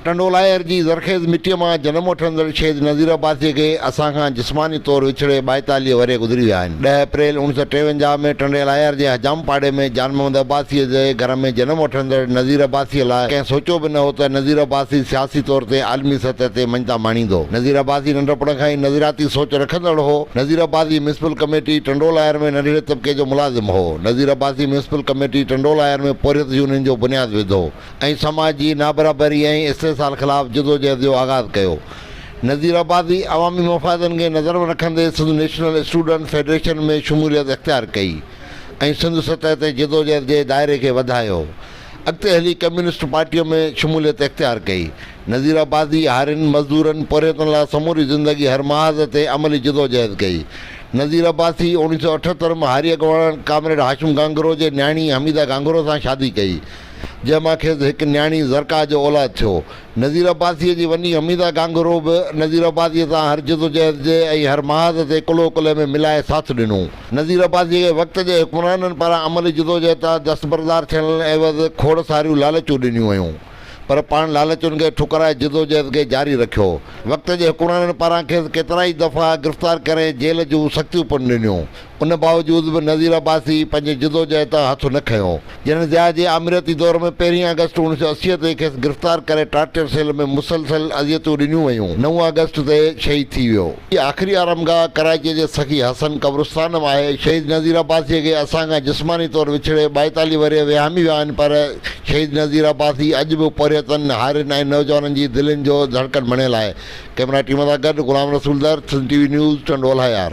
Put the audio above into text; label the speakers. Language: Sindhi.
Speaker 1: ٽنڊولاهير جي زرخيز مٽيء مان جنم وٺندڙ شهيد نذير عباسيء کي اسان کان جسماني طور وڇڙي ٻائيتاليهه ورهيه گذري ويا آهن. ڏهه اپريل اوڻيھ سؤ ٽيونجاهه ۾ ٽنڊيلاهير جي حجام پاڙي ۾ جان محمد عباسيء جي گهر ۾ جنم وٺندڙ نذير عباسيء لاء ڪنهن سوچيو به نه هو ته نذير عباسي سياسي طور تي عالمي سطح تي مڃتا ماڻيندو. نذير عباسي ننڍپڻ کان ئي نظرياتي سوچ رکندڙ هو. نذير عباسي ميونسپل ڪميٽي ٽنڊولاهير ۾ ننڍڙي طبقي جو ملازم هو. نذير عباسي ميونسپل ڪميٽي ٽنڊولاهير ۾ پورهيت يونين جو بنياد وڌو. ۽ سماج جي نابرابري ۽ استحصال خلاف جدوجهد جو آغاز ڪيو. نذير آبادي عوامي مفادن کي نظر ۾ رکندي سنڌ نيشنل اسٽوڊنٽ فيڊريشن ۾ شموليت اختيار ڪئي ۽ سنڌ سطح تي جدوجهد جي دائري کي وڌايو. اڳتي هلي ڪميونسٽ پارٽيء ۾ شموليت اختيار ڪئي. نذير آبادي هارين، مزدورن، پورهيتن لاء سموري زندگي هر محاذ تي عملي جدوجهد ڪئي. نذير عباسي اوڻيھ سؤ اٺهتر ۾ هاري اڳواڻ ڪامريڊ هاشم گهانگهرو جي نياڻي حميده گهانگهرو سان شادي ڪئي. جنهن مان کيس هڪ نياڻي زرقا جو اولاد ٿيو. نذير عباسيء جي وني حميده گانگهرو به نذير عباسيء سان هر جدوجهد جي ۽ هر محاذ تي ڪلهو ڪلهي ۾ ملائي ساٿ ڏنو. نذير عباسيء کي وقت جي حڪمرانن پاران عملي جدوجهد تان دستبردار ٿيڻ عيوض کوڙ ساريون لالچون ڏنيون ويون. پر پاڻ لالچن کي ٺڪرائي جدوجهد کي جاري رکيو. وقت جي حڪمرانن پاران کيس ڪيترائي دفعا گرفتار ڪري جيل جون سختيون پڻ ڏنيون. ان باوجود به نذير عباسي پنهنجي جدوجهد تان هٿ نه کنيو. جنرل ضياء جي آمريتي دور ۾ پهرين آگسٽ اڻ سؤ اسي تي کيس گرفتار ڪري ٽارچر سيل ۾ مسلسل اذيتون ڏنيون ويون، نو آگسٽ تي شهيد ٿي ويو. جي آخري آرامگاهه ڪراچيء جي سخي حسن قبرستان ۾ آهي. شهيد نذير عباسيء کي اسان کان جسماني طور وڇڙي ٻائيتاليهه ورهيه وهامي ويا آهن پر شهيد نذير عباسي اڄ به پورهيتن، هارين ۽ نوجوانن جي دلين جو ڌڙڪن بڻيل آهي. ڪئميرا ٽيم سان گڏ غلام Rasool Dar, Sindh T V news, Tando Allahyar.